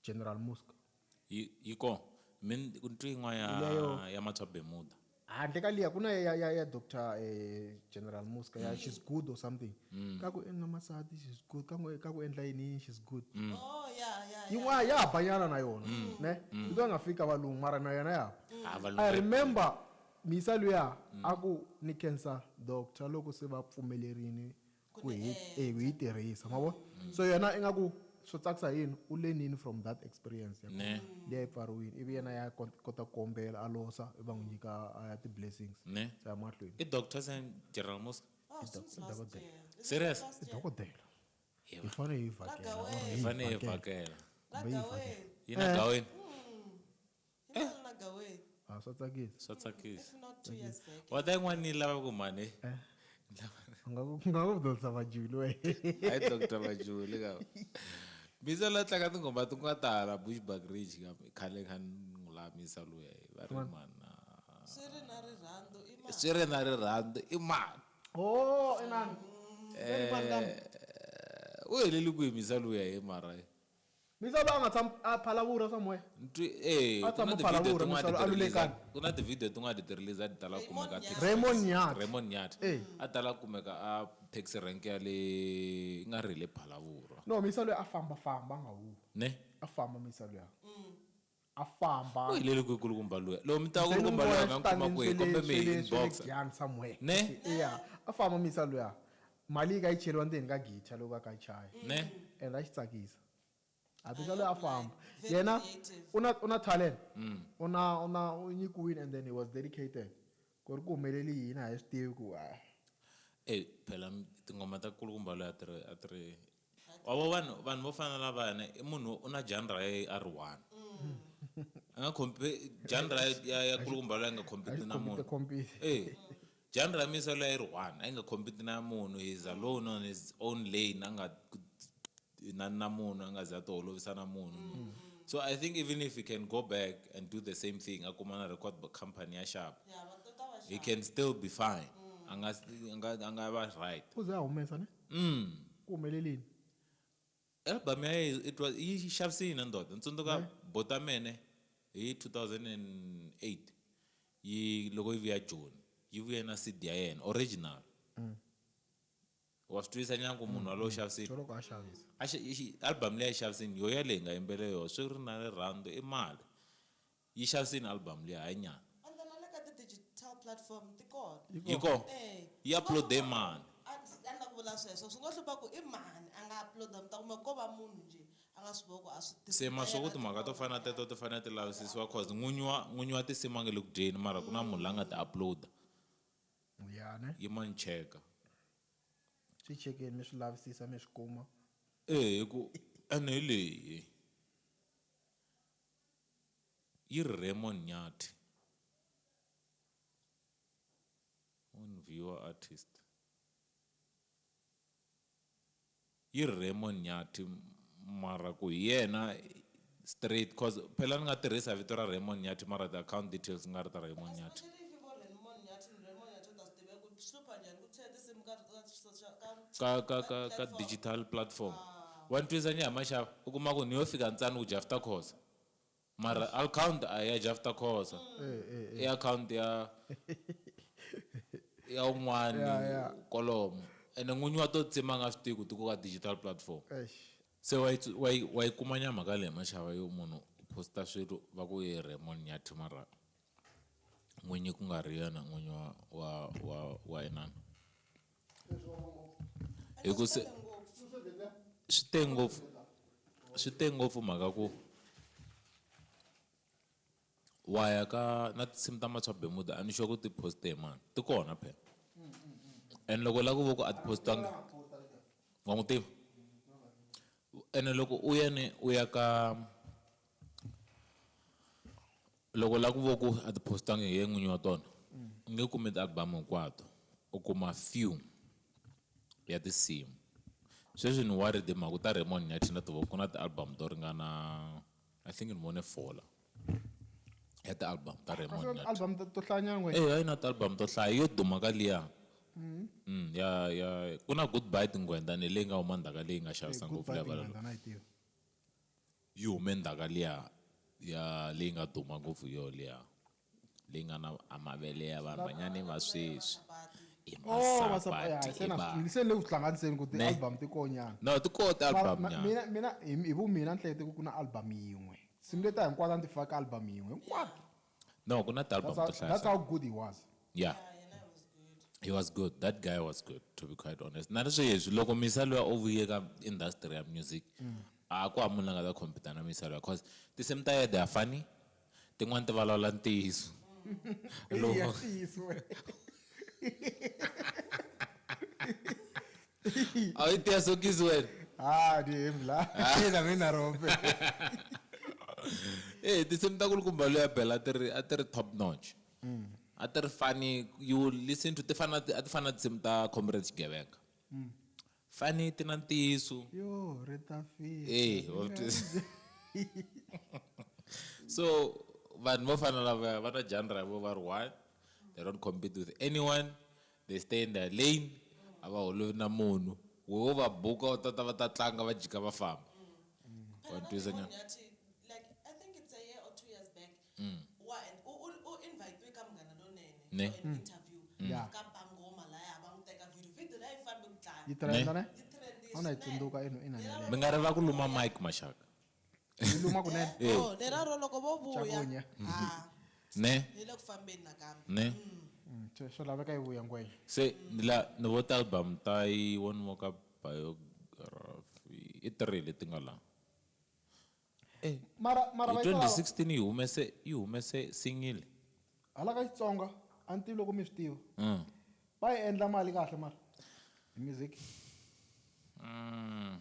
S2: General Musk. Yi, yi
S1: kona. Mi ni ku ni twi yin'wana ya, Leyo. ya Matswa
S2: Bermuda.
S1: handle ka liya ku na
S2: ya, ya, ya doctor eh, general muska ya she's good or something ka ku endla masati she's good ka ku- ka ku endla yini yini she's good Oh, ya, ya, ya.
S3: yin'wana ya ha banyana
S2: na yona ne loko va nga fiki ka valungu mara na yona ya Ah, valungu i ya- remember misa luya a ku ni cancer doctor loko se va pfumelerini ku hi eh, hi tirhisa ma vona mm. so yena ingaku swo tsakisa yini u lenini from that experience ya leyi a yi
S1: pfariwini ivi
S2: yena ya kota ku kombela a losa i va n'wi nyika a ya ti-blessings se ya mahlweni
S1: i doctor
S2: sen general
S1: mosca oh,
S3: serious i dokodela
S2: hi fanele hi vhakela hi
S1: fanele hi vhakela
S3: yi na gaweni Hi mali na gaweni. Ah, swa tsakisa.
S2: Swa tsakisa. If not
S1: two years back.
S3: Wa ta yin'wana ni lava ku
S1: mhani. Eh. U
S2: nga ku nga ku Dr. Majuli we. Hi Dr.
S1: Majuli ka. Biza la tlanga tingoma ti nga tala Bushbuck Ridge ka khale kha n'wi lamisa luya va ri mana. Swi ri na
S3: rirhandzu i mali. Swi ri na rirhandzu
S1: i mali. Oh,
S2: inana. Eh.
S1: U heleli ku yimisa luya hi mara. Misava a
S2: nga tshami a phalavurha somewhere? Ntwi, E, A ku tshama na a ti-video phalavurha, tin'wana a ti Misava a ti-release-a, lulekani. ku na ti-video tin'wana a
S1: ti ti-release-a a ti tala ku kumeka a taxi Raymond rank. Nyathi.
S2: Raymond Nyathi. E.
S1: A ti tala ku kumeka a taxi rank ya le, i nga ri hi le Phalavurwa. No, Misa luya a
S2: fambafamba a nga huhwi. Ne? A famba
S1: Misa
S2: luya. a famba u helele kwihi kulukumba
S1: luya loko mi tiva kulukumba luya mi ya n'wi kuma kwihi kombe mi hi inbox somewhere ne
S2: ya
S1: a famba
S2: mi yisa luya mali yi ka yi cheriwa ndzeni ka guitar loko a ka chaya ne and a xi
S1: tsakisa
S2: a bisa loyi a famba yena
S3: u na
S2: u na
S3: talent mm.
S2: u na u na u nyikiwile and then he was dedicated ku ri ku humeleli yini a hi swi tivi ku a eyi
S1: phela tinghoma ta kulukumba loyi a ti ri a ti ri Wa vo vanhu vanhu vo fana na lavayana i munhu u na genre ya yena a ri one a nga compete genre ya ya ya kulukumba loyi a nga compete na munhu Compete, compete. eh genre ya misa loyi a yi ri one a yi nga compete na munhu he is alone on his own lane a nga na na munhu a nga ze a ti holovisa na munhu so I think even if he can go back and do the same thing a kuma na record company ya xava he
S3: can still be
S1: fine a nga a nga a nga va right U ze a humesa ne?
S2: Mm. ku humelelini
S1: album ya yena it was yi xavise yini ndoda ni tsundzuka Ne? botamene hi 2008 yi loko yi vuya joni yi vuye na cd ya yena original wa swi twisisa nyana ku munhu walowo xavisile joloko a xavisa
S2: A xi- i xi- album leyi
S1: a yi xavisini yo yaleyi hi nga yimbele yona swi ri na rirhandzu i mali Yi xaviseni album liya hayi nyana. Ende na le ka ti
S3: digital platform ti kona. Yi kona?
S1: Eeh. Yi uploade mani? A ndzi ta lava ku vula
S3: sweswo. Swi ngo hlupha ku i mani a nga uploada mi ta kuma ko va munhu njhe a nga swi voko a swi tiva. Se ma swa ku timhaka to
S1: fana na teto ti fanele ti lavisisiwa coz n'winyi wa n'winyi wa tinsimu a nga le ku dyeni mara ku na munhu la nga ti uploada.
S2: Ya ne. Yi mani cheka. Swi chekeni mi swi lavisisa mi swi kuma. Eeh hi ku
S1: ene hi leyi. Yi ri Raymond Nyathi. On viewer artist. Yi ri Raymond Nyathi mara ku hi yena straight cause phela ni nga tirhisa vito ra Raymond Nyathi mara ti account details ku nga ri ta Raymond Nyathi.
S3: ka ka ka ka digital platform
S1: wa ni twisa ni ya maxava u kuma ku ni yo fika ntsani ku jafta khoza mara account a ya jafta khoza i account ya ya un'wani kolomo ene n'winyi wa to tsima nga swi tivi ku ti ku ka digital platform se wa yi wa yi wa yi kuma nya mhaka leyi maxava yo munhu u posta swilo va ku i Raymond Nyathi mara. n'winyi ku nga ri yena n'winyi wa wa wa wa inana hi ku se swi te ngopfu swi te ngopfu mhaka ku wa ya ka na tinsimu ta matswa bemuda a ni xo ku ti poste hi mani ti kona phela and loko la ku vo ku a ti postanga wa n'wi tiva ene loko u yene u ya ka Loko u lava ku vona ku a ti post-angi hi yena n'winyi wa tona, u nge kumi ti-album hinkwato. U kuma few ya tinsimu. Sweswi ni worried hi mhaka ku ta Raymond Nyathi na tiva ku ku na ti-album to ringana I think ni vone four la, ya ti-album ta Raymond Nyathi. Ti-album to hlayanyana
S2: ngwenya. Eya i na ti-album to hlaya.
S1: Yo duma ka liya ya ya ku na Goodbye Tinghwendha ni leyi nga huma ndzhaku ka leyi nga xavisa ngopfu. Goodbye Tinghwendha na yi tiva. Yi hume ndhaka liya ya leyi nga duma ngopfu yo liya leyi nga na a mavele ya vanhwanyani va sweswi i Oh masapati ya masapati se i na swi tivile se ni vanhu. le
S2: ku swi hlanganiseni ku Ne. ti-album ti koho nyana. No ti koho ti-album Mara ma-
S1: nyana. mina mina hi hi vu mina
S2: ni hlekete ku ku na album yin'we tinsimu letiya hinkwato a ni ti faka ka album yin'we hinkwato. No, kuna
S1: the album that's how, that's how good he was.
S2: Yeah. yeah
S1: he was good that guy was good to be quite honest na sweswi loko misa loyi o vuye ka industry ya music mm. a ku hava munhu la nga ta compete na misa loyi cause tinsimu ta yede ya funny tin'wani ti vulavula ntiyiso loko awiteya sokisi wena ha ni hembi la
S2: na mina rope
S1: e tinsimu ta kulukumba loyi a bela ti ri a ti ri top notch mm. a ti ri fani you listen to ti fana a ti fana tinsimu ta comrade xigevenga mm. fani ti na ntiyiso yo ri ta
S2: fika e
S1: so vanhu vo fana lava va na genre vo va ri one they don't compete with anyone The stand Lane a va holovi na munhu we wo va buka u ta ta va ta tlanga va jika va famba wa ni twisa nyana
S3: ne Yeah. Yi trenda ne?
S2: A wu na yi
S3: tsundzuka ina
S2: ina mi nga ri va ku luma
S1: mike maxaka Yi luma
S2: kunene. Eh. Oh, leraro loko
S3: vo vuya Chakunya. ha
S2: ne
S1: yi le ku fambeni
S3: nakambe ne Mm,
S1: swi- Swi
S2: laveka yi vuya ngwenya. se ni la
S1: ni vo talbum ta yi one more ka biography i three leti nga la Mara
S2: mara hi va yi lava.
S1: 2016 yi
S2: humese yi
S1: humese single Hala ka
S2: Xitsonga a ni tivi loko mi swi tiva. Mm. Va yi endla mali kahle mara. Hi music. Mm.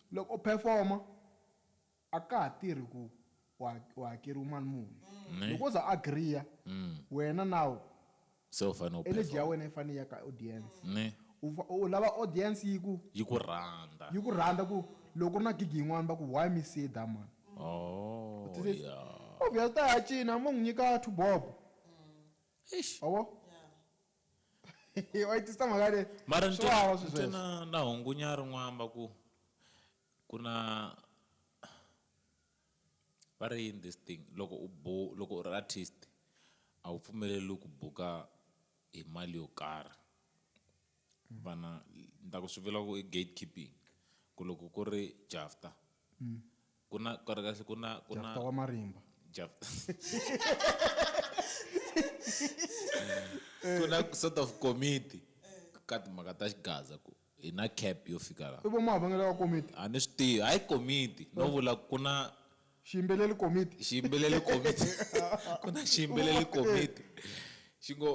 S2: Loko u phefoma, a ka ha tirhi ku u hakeriwe mali muni. Loko o za a agriya, wena now
S1: energy ya wena yi fanele yi ya ka audience. U lava
S2: audience yi ku. Yi ku rhandza. Yi
S1: ku rhandza ku
S2: loko ku ri na gig yin'wana va ku, why me see da man. U ti
S1: says,
S2: obvious u ta ya
S1: cina,
S2: mo n'wi nyika two bob.
S1: Wa vo?
S2: Hi wa
S3: tisa mhaka
S2: leyi. Mara ni Swa twa vava swi ni twa
S1: sweswo. na
S2: na hungunya ri
S1: n'wamba ku ku na va ri yini this thing loko u bu loko u ri artist a wu pfumeleriwi ku buka hi mali yo karhi vana ni ta ku swi vula ku i gate keeping ku loko ku ri Jafta ku na kahle kahle ku na ku na jafta wa marimba
S2: jafta
S1: ku na sort of committee ka timhaka ta xigaza ku hi na cap yo fika laha i vo mahavangelo ya komiti
S2: a ni swi tivi hayi
S1: komiti no vula ku na xiyimbeleli
S2: komiti xiyimbeleli komiti
S1: ku na xiyimbeleli komiti xi ngo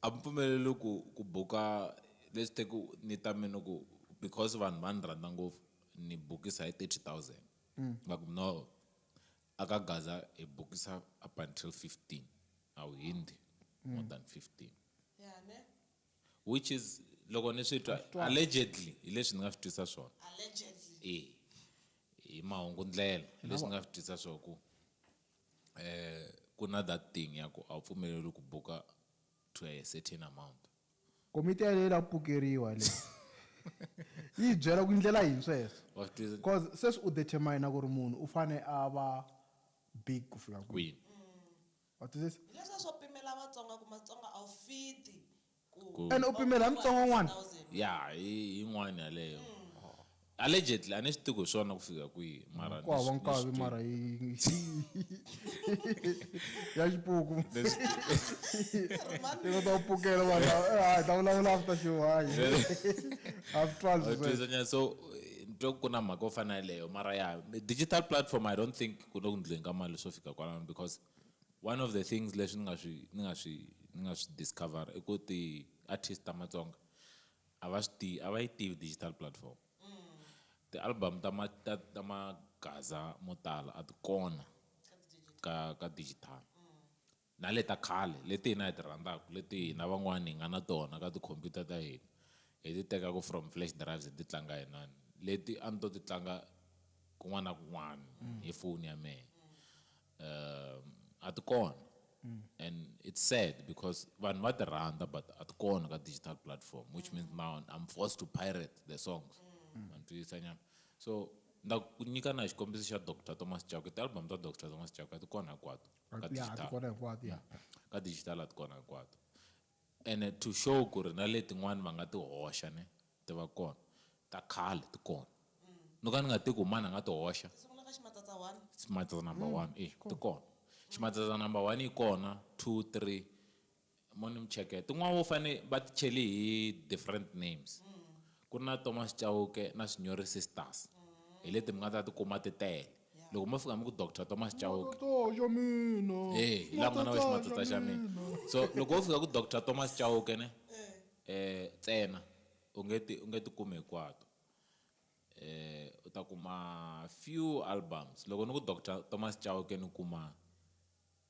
S1: A mi pfumeleriwi ku ku buka leswi te ku ni ta mi ni ku because vanhu va ni rhandza ngopfu ni bukisa hi thirty thousand ni va ku no a ka gaza hi bukisa up until fifteen a wu hindzi more than fifteen
S3: which is
S1: loko ni swi twa allegedly hi leswi ni nga swi twisa swona e
S3: hi
S1: mahungu ndlela hi leswi ni nga swi twisa swo ku. Ku na that thing ya ku a wu pfumeleriwi ku buka to a
S2: certain
S1: amount.
S2: Komiti
S1: yaleyo
S2: yi lava ku
S1: pukeriwa
S2: yaleyo. Yi hi byela ku i ndlela yini sweswo. Wa swi twisisa. Coz
S1: sweswi u determine
S2: ku ri munhu u fane a va big ku fika kwini. Kwini.
S1: Wa twisisa? Hi
S2: leswiya swo pimela
S3: Vatsonga ku Matsonga a wu fit Ku. Ene u pimele ha mutsongo
S2: n'wana? Ya, hi
S1: yin'wana yaleyo. Allegedly, a ni swi tivi ku hi swona ku fika kwihi, mara ni Ku hava swi- ni nkavi swi twile. mara
S2: hi ya xipuku Ni swi twile. i kota ku pukela vanhu lava, eh, hayi, hi ta vulavula after show hayi half twelve Wa sweswo.
S1: twisanyana. so eh, ni twa ku na mhaka yo fana yaleyo mara ya digital platform i don't think ku le ku ndleni ka mali swo fika kwalano because One of the things leswi ni nga swi ni nga swi ni nga swi discover i ku ti artist ta Matsonga a va swi tivi a va yi tivi digital platform ti album ta ma ta ta magaza mo tala a ti kona ka ka digital na le ta khale leti hina hi ti rhandzaka leti hina van'wana hi nga na tona ka ti computer ta hina hi ti tekaka from flash drives hi ti tlanga hi inani leti a ni to ti tlanga kun'wana na kun'wana hi foni ya mehe um a ti kona mm. and it's sad because vanhu va ti rhandza but a ti kona ka digital platform which means now i'm forced to pirate the songs manditwisa mm. nyana so nda ku nyika na xikombiso xa dr thomas chako tialbum ta dr thomas chako a ti kona hinkwato ka digital a ti kona hinkwato
S2: ka digital a ti
S1: kona hinkwato And to show ku ri na letin'wana va nga ti hoxa ne, ti va kona. Ta khale ti kona. No ka ni nga tivi ku mani a nga ti hoxa. Ti sungula ka ximatsatsa
S3: one. Ximatsatsa number one,
S1: e, ti kona. Ximatsatsa number one yi kona, two, three. Mo ni mi cheketa. Tin'wana vo fane va ti chele hi different names. Ku ri na Thomas Chauke na Swinyori Sisters hi leti mi nga ta ti kuma ti tele loko mo fika mi ku Doctor Thomas Chauke eh
S2: hi laha ku nga na wena
S1: ximatata xa mina so loko wo fika ku Doctor Thomas Chauke ne eh ntsena u nge ti u nge ti kumi hinkwato eh u ta kuma few albums loko ni ku Doctor Thomas Chauke ni kuma.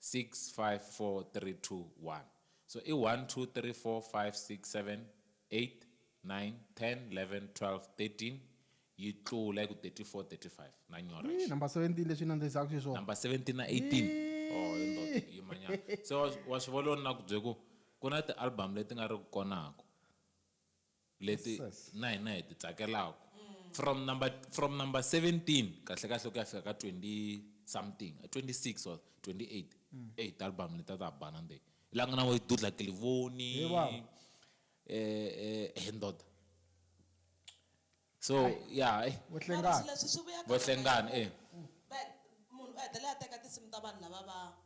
S1: 654321 so i 123456789101111213 yi tlula yi ku 3435 na nyora Yii, number 17 leswi yi
S2: nandzihisaka xiswona. number 17 na
S1: 18 oh yo ndoto yima nyana se wa wa swi vona loko ni na ku bye ku ku na ti album leti nga ri ku konaku. leti na hina hi ti tsakelaka from number from number 17 kahle kahle ku ya fika ka 20 something 26 or 28 mm. eyi ti-album leti a ta bana nde la nga na vo dudla kilivoni um eh, eh, ndoda so ya eh. vohlengani
S3: vohlengani e munhu u hetelela a teka tinsimu ta vanhu lava va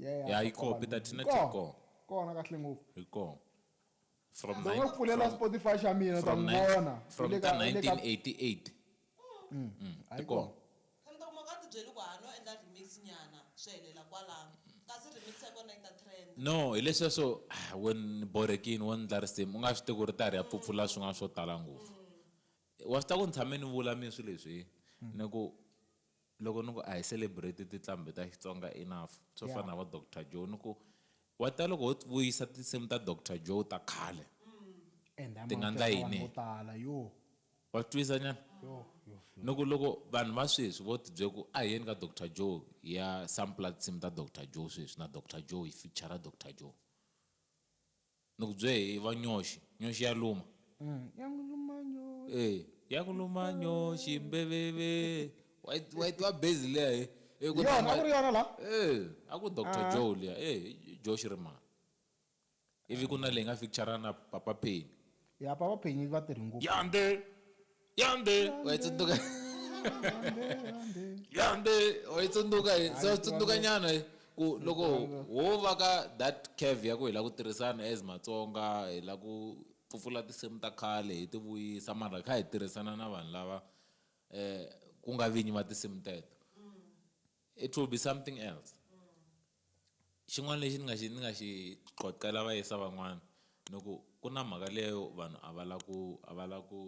S1: Yeah, ya yi koho peter tina ti koho kona kahle ngopfu
S2: yi koho
S1: from ndzi nga pfulela
S2: spotify xa mina ta n'wi vona from ka
S1: 1988 mm. mm,
S3: ti koho no hi leswiya swo
S1: ah, wen borekini wo ndla risimu u nga swi tivi ku ri ta ri ya pfupfula swin'wana swo tala ngopfu wa swi ta ku ni tshame ni vula mi swi leswi ni ku Loko ni ku a hi celebrate tiqlambi ta Xitsonga enough swo fana na va Doctor Joe ni ku wa tiva loko ho vuyisa tinsimu ta Doctor Joe ta khale ti nga ndla yini wa swi twisa nyana ni ku loko vanhu va sweswi vo ti byela ku a hi yeni ka Doctor Joe hi ya sampler tinsimu ta Doctor Joe sweswi na Doctor Joe hi feature Doctor Joe Ni ku bye hi va nyoxi, nyoxi ya luma. Ya n'wi luma nyoxi. E, ya ku luma nyoxi mbeveve. Wa yi wa yi tiva bass liya he. E ku Yona, a ku ri yona la? E, a ku Doctor Joe liya. E, i Joxi ri mani. Ivi ku na leyi nga feature-a na Papa Penny. Ya Papa Penny
S2: va tirhi ngopfu. Yande!
S1: yande waitsunduka yande waitsunduka hi so tsundzuka nyana hi ku loko wo va ka that cave ya ku hi la ku tirhisana as matsonga hi la ku pfupfula tinsimu ta khale hi ti vuyisa mara kha hi tirhisana na vanhu lava um ku nga vinyi va tinsimu teto it will be something else xin'wana lexi ni nga xi ni nga xi qoqela vayisa van'wana ni ku ku na mhaka leyo vanhu a va la ku a va la ku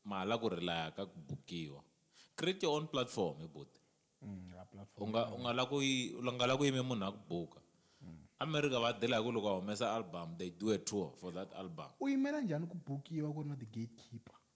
S1: mahala ku relaya ka ku bukiwa create your own platform hi buti mm, u nga u nga la ku u nga la ku yime munhu a ku buka mm. america va dela hi ku loko a humesa album they do a tour for that album u yimela njhani ku
S2: bukiwa ku ri na ti-gatekeeper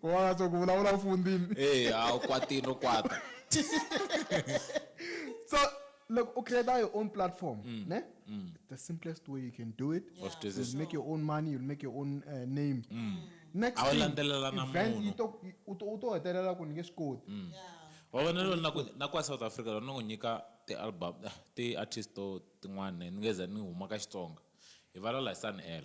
S1: ku va nga
S2: tsongo vulavula u fundini e a wu kwatini u
S1: kwata
S2: so loko u create your own platform mm. ne mm. the simplest way you can do it yeah. you'll make your own money you'll make your own uh, name mm. next
S1: thing
S2: u to
S1: hetelela
S2: ku ni nge swi koti mm. yeah. wa vona
S1: lolo na kwa south africa lona n'wi nyika ti-album eh, ti-artist to tin'wana ni nge za ni huma ka xitsonga hi valala hi sun l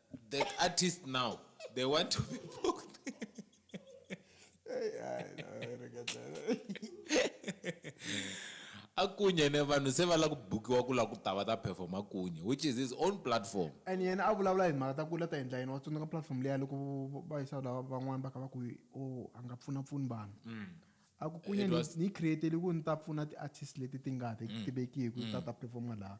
S1: that artist now they want to be booked akunye ne vanhu se va la ku bukiwa ku la ku ta va ta perform akunye which is his own platform and yena a vulavula
S2: hi mhaka ta ku la ta endla yini wa tsundzuka platform leya loko va yisa lava van'wani va ka va ku o oh, a nga pfuna pfuni vanhu mm. a ku kunye ni createle ku ni ta pfuna ti-artist leti ti nga ti mm. tivekiki ta mm. ta performa laha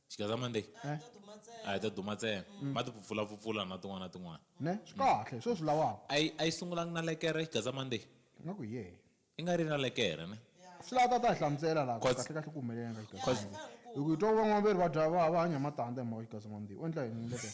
S2: xigeza monday
S1: a
S3: hi ta duma ntsena
S1: ma ti pfupfulapfupfula na tin'wana na tin'wana ne swi kahle hi
S2: swo swi lavaka a yi a yi sungulangi na
S1: lekere xigeza monday nga ku ye
S2: i nga ri na lekere
S1: ne swi lava tata hi
S2: hlamusela laha ku Cause- kahle kahle ku humelela yini ka Cause- xigeza hi ku hi twa ku van'wana va ri va dya va va hanya matandza hi mhaka xigeza monday u endla yini lekere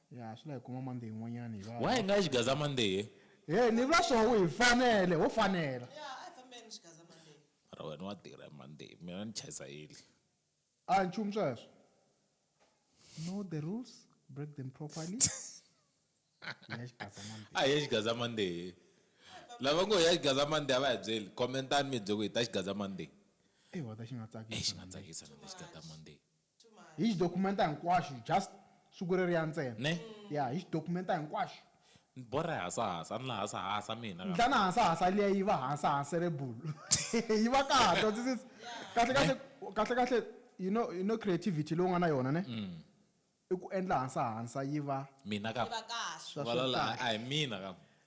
S1: Ya, swi la hi kuma
S2: Monday yin'wanyana hi va. Why hi nga yi xigaza Monday?
S1: Hey, ni vula
S2: swo hi fanele, ho fanela. Ya, a hi fambeni
S3: xigaza Monday. Mara wena wa tirha
S1: hi Monday, mina ni chayisa early. A hi nchumu
S2: sweswo. Know the rules, break them properly. Hi ya xigaza
S1: Monday. A hi ya xigaza Monday. Lava ngo hi ya xigaza Monday a va hi byeli. Comment-ani mi hi byela ku hi ta xigaza Monday. Ewa ta xi nga
S2: tsakisa. Xi nga tsakisa na
S1: lexi nga ta Monday. Hi xi
S2: dokumenta hinkwaxu just siku reriya ntsena. Ne? Ya, hi xi
S1: dokumenta
S2: hinkwaxu. Ni borha hi
S1: hasahasa, ni la hasahasa mina ka. Ndlana hasahasa liya
S2: yi va hasahaserebul. Yi va kahle, wa twisisa? Kahle Ne? kahle, kahle kahle, you know, you know creativity leyi u nga na yona ne? I ku endla
S1: hansahansa
S3: yi
S1: va.
S2: Mina ka.
S1: Yi va
S2: kahle. Swa, swa
S1: kahle. Valala
S3: a hi
S1: mina
S2: ka.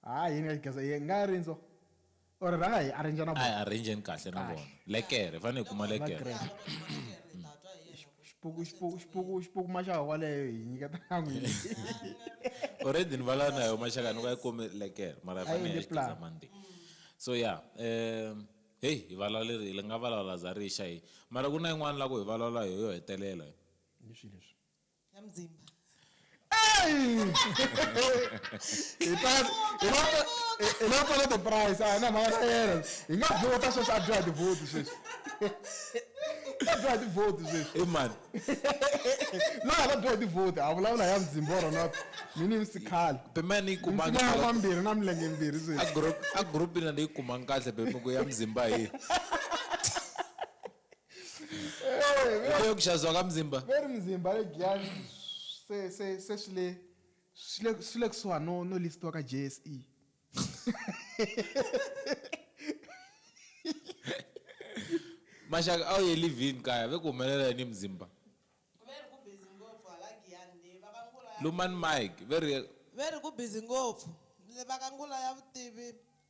S1: Ha yini ka Xigaza
S2: hi nga ya rindzu or rhanga hi arranger na vona. A hi arrange-ni kahle
S1: na
S2: vona.
S1: Lekere, hi fanele hi kuma lekere. Xipuku
S2: xipuku xipuku xipuku maxaka kwaleyo hi nyiketa na n'wini.
S1: Already ni valava na yoho maxaka ni va yi kome lekere mara hi fanele hi ya Xigaza Monday. So ya heyi hi valalerile hi nga valala za rixa heyi mara ku na yin'wana la ku hi valala yoho yo hetelela. Hi swihi leswi?
S3: ya mudzimba
S2: hipasipolo the price a hi na mhaka na yena hi nga vhota sweswi a dyoha tivhoti sweswi a dyoha tivhoti sweswi emani loyi a ta dyoha tivhoti a vulavula ya mudzimba wa rona mini ni sikhale bemani yi
S1: kumamambirhi na
S2: milenge mbirhi sweswi a group ina ni yi
S1: kumanga kahle bemiku ya mudzimba hi Uboya kuxaziwa ka mzimba. Veri mzimba le
S2: Giyani se se se swi le swi le swi le kusuhani no no list-iwa ka JSE.
S1: Maxaka a wu ye live-in kaya ve ku humelela yini hi mzimba? Veri ku
S3: busy ngopfu hala Giyani le va ka Ngula ya Lumani mic veri.
S1: Veri ku
S3: busy ngopfu le va ka Ngula ya vutivi.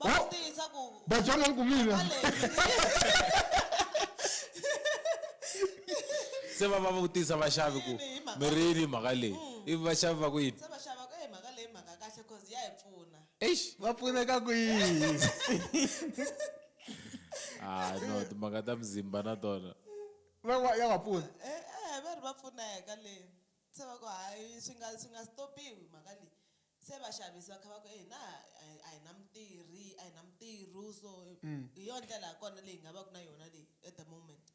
S2: va
S3: Oh. swi tiyisa ku Batswana ni ku mina.
S1: se va va vutisa vaxavi ku Yini hi mhaka mi ri yini mhaka leyi ivi vaxavi va ku yini se va xava ku e mhaka
S3: leyi mhaka kahle cause ya hi pfuna eish Va pfuneka
S1: ku
S2: yini?
S1: ah no timhaka ta mzimba na tona Va va ya va
S2: pfuna. e e va ri va
S3: pfuneka le se va ku hayi swi nga swi nga stopiwi mhaka leyi Se vaxavisi va kha va ku, e hina a hi na mutirhi, a hi na mutirhu so hi yona ndlela ya kona leyi hi nga vaka na yona leyi at the moment.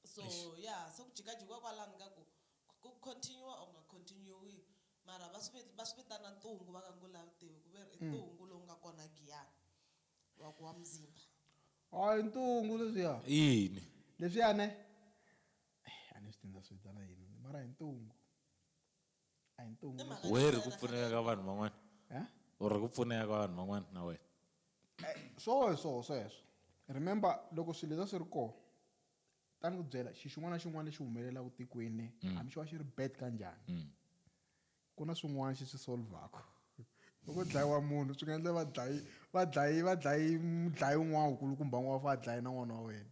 S3: So ya se ku jikajikiwa kwalano ka ku ku continue-wa or ku nga continue-iwi mara va swi va swi vitana ntungu va ka Ngula vutivi ku ve ri i ntungu lowu nga kona Giyani wa ku wa muzimba. A hi
S2: ntungu leswiya. I yini?
S1: Leswiya ne
S2: a ni swi tiva ni ta swi vitana yini mara hi ntungu. a hi ntungu I mhaka- where ku pfuneka
S1: ka vanhu van'wana Eh? or ku
S2: pfuneka ka
S1: vanhu van'wana na wena
S2: swo swo sweswo remember loko swilo leswi swi ri kona ta ni ku byela xi xin'wana na xin'wana lexi humelelaka tikweni hambi xi va xi ri bad kanjhani ku na swin'wana xi swi solvaka loko ku dlayiwa munhu swi nga endla va dlayi va dlayi va dlayi mudlayi un'wana wukulukumba n'wana wa fa a dlaye na n'wana wa wena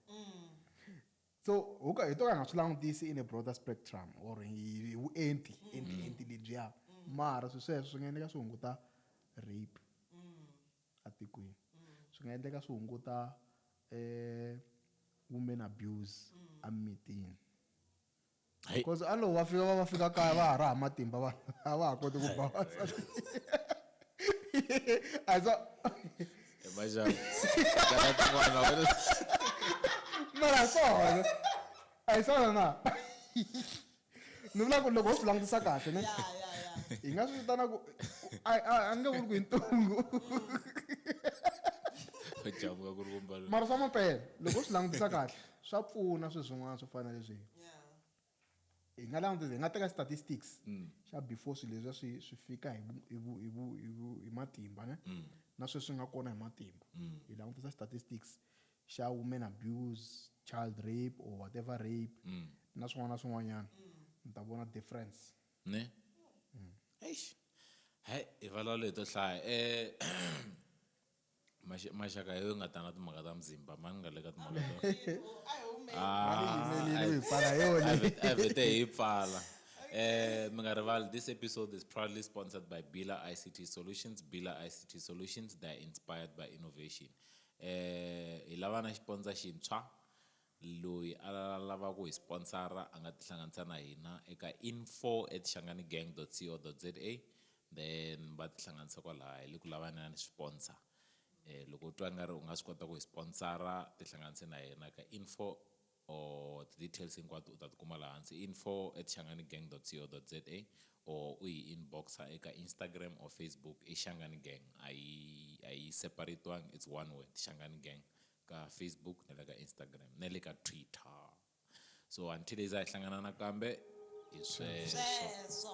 S2: So ho ka hi to ka hi nga swi langutisi in a broader spectrum or hi hi vuenti enti enti lebyiya mara swi sweswo swi nga endleka swi hunguta rape atikweni swi nga endleka swi hunguta um women abuse emimitini Hey. because alo va fika va va fika kaya va ha ri ha matimba va a va ha koti ku ba wansati a za Imagine. Kana tin'wana wena. mara hi swona a hi swona na ni vula ku loko ho swi langutisa kahle ne ya ya ya hi nga swi vitana ku a a- a nge vuli ku hi ntungu Jabuka ku ri ku mbalo. mara swa mampela loko u swi langutisa kahle Swa pfuna swi swin'wana swo fana na leswi hi nga langutisa hi nga teka statistics xa before swilo leswi swi swi fika hi vu hi vu hi vu hi vu hi matimba ne na sweswi nga kona hi matimba hi langutisa statistics xa women abuse child rape or whatever rape na swin'wana na swin'wanyana mi ta vona difference ne
S1: eish hayi hi valwa leto hlaya um maxaka yo nga tanga timhaka ta muzimba mani nga le ka timhaka tavete hi pfala um mi nga rivali this episode is proudly sponsored by bila ict solutions bila ict solutions they are inspired by innovation um hi lava na xiponza xintshwa Loyi a lava ku hi sponsor-a a nga tihlanganisa na hina eka info at shangani-gang dot co dot za then va tihlanganisa kwalaya. Hi le ku lavaneni sponsor. Loko u twa i nga ri u nga swi kota ku hi sponsor-a tihlanganise na hina ka info or ti-details hinkwato u ta ti kuma laha hansi info at shangani-gang dot co dot za or u hi inbox-a eka Instagram or Facebook i shangani-gang a yi a yi separate-iwanga it's one word shangani-gang ka Facebook na le ka Instagram na le ka Twitter so until hi za hi hlangana nakambe hi sweswo